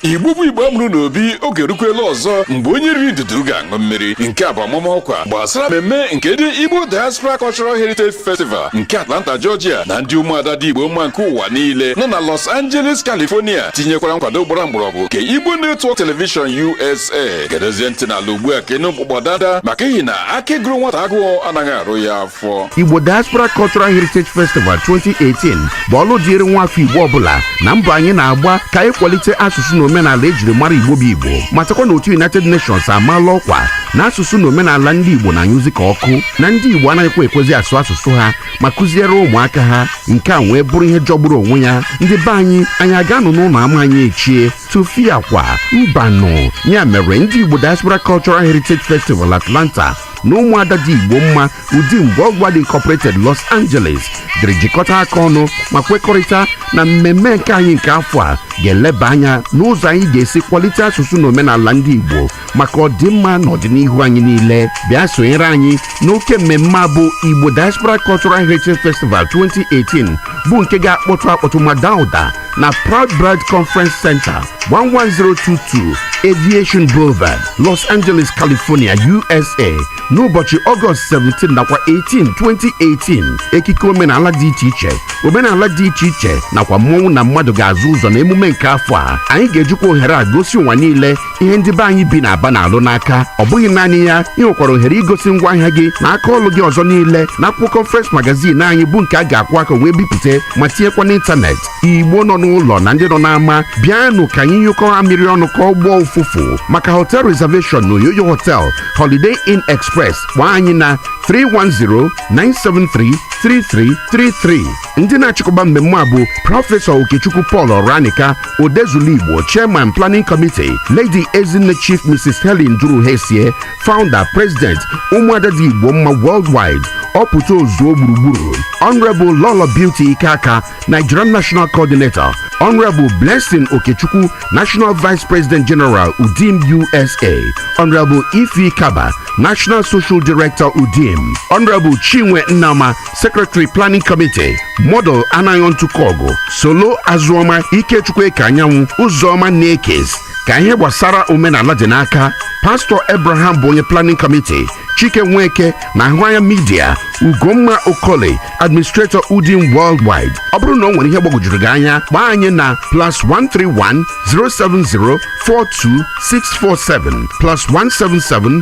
igbo bụ igbo a mụrụ n'obi oge erukwela ọzọ mgbe onye riri ndudu ga-aṅụ mmiri nke a bụ ọmụma ọkwa gbasara mmemme nke ndị igbo diaspora cultural heritage festival nke atlanta georgia na ndị ụmụada dị igbo mma nke ụwa niile nọ na los angeles california tinyekwara nkwado gbara mgbọrọgwụ nke igbo network television usa gedezie ntị n'ala ugbu a ka ị nụ mkpụkpọ danda maka ihi na aka gụrụ nwata agụụ anaghị arụ ya afọ Igbo Diaspora Cultural Heritage Festival 2018 bụ ọlụ dịịrị nwa afọ Igbo ọ bụla na mbọ anyị na-agba ka anyị kwalite asụsụ na omenala e jiri mara Igbo bụ Igbo matakwa na otu United Nations amaala ọkwa na asụsụ na omenala ndị Igbo na-anyụzi ka ọkụ na ndị Igbo anaghịkwa ekwezi asụ asụsụ ha ma kụziere ụmụaka ha nke a wee bụrụ ihe jọgburu onwe ya ndị be anyị anyị aga-anọ n'ụlọ ama anyị echie tụfịakwa mbanụ ya mere ndị Igbo Diaspora Cultural Heritage Festival Atlanta na ụmụada dị Igbo mma UDIM Worldwide Incorporated Los Angeles jiri jikọta aka ọnụ ma kwekọrịta na mmemme nke anyị nke afọ a ga-eleba anya n'ụzọ anyị ga-esi kwalite asụsụ na omenala ndị Igbo maka ọdịmma na ọdịnihu anyị niile bịa sonyere anyị n'oke mmemme a bụ Igbo Diaspora Cultural Heritage Festival 2018 bụ nke ga-akpọtụ akpọtụ ma daa ụda na Proud Bird Conference Center 11022 Aviation Boulevard, Los Angeles, California, USA n'ụbọchị Ọgọst 17 nakwa 18 2018 ekike omenala dị iche iche omenala dị iche iche nakwa mmọnwụ na mmadụ ga-azọ ụzọ na emume nke afọ a anyị ga-ejikwa ohere a gosi ụwa niile ihe ndị be anyị bi n'Aba na-alụ n'aka ọ bụghị naanị ya i nwekwara ohere igosi ngwa ahịa gị na aka ọlụ gị ọzọ niile na akwụkwọ Conference Magazine anyị bụ nke a ga-akwọ aka wee bipụta ma tinyekwa n'ịntanetị Igbo nọ n'ụlọ na ndị nọ n'ama bịanụ ka anyị nyụkọọ amịrị ọnụ ka ọ gbọọ ụfụfụ maka hotel reservation na Oyoyo Hotel Holiday Inn Express kpọọ anyị na 310 973 3333 ndị na-achịkọba mmemme a bụ prọfesọ okechukwu paul ọranika odezulu igbo chairman planning committee lady ezinne chief mrs helen duruhesie founder president ụmụada dị igbo mma worldwide ọpụta ozuo gburugburu honorable lolo beauty ikeaka nigerian national coordinator honorable blessing okechukwu national vice president general udim usa honorable ify kaba national social director udim honorable chinwe nnama Secretary Planning Committee Model Anayo Ntukogu Solo Azuoma Ikechukwu Ekeanyanwụ Ụzọma Nekes ka ihe gbasara omenala dị n'aka Pastor Abraham bụ onye Planning Committee Chike Nweke na Ahụanya Media Ugomma Okole Administrator Udim Worldwide ọ bụrụ na o nwere ihe gbagwojuru gị anya kpọọ anyị na plus 131 070 42 647 plus 177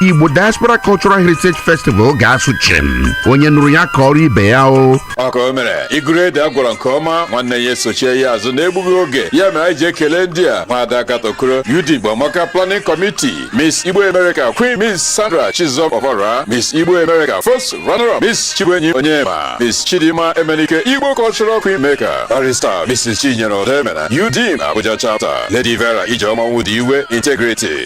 Igbo Diaspora Cultural Heritage Festival ga-asụ chim onye nụrụ ya kọọrọ ibe ya o ọka o mere iguru ede a gwọrọ nke ọma nwanne ya esochie ya azụ n'egbughị oge ya mere anyị ji ekele ndị a nwada katokoro udim igbo amaka planning committee miss igbo america queen miss sandra chizọm ọbara miss igbo america first runner up miss chibuenyim onyema miss chidima emenike igbo cultural queen maker barrister mrs chinyere odemena udim abuja chapter lady vera ijeọma ọnwụdiwe integrity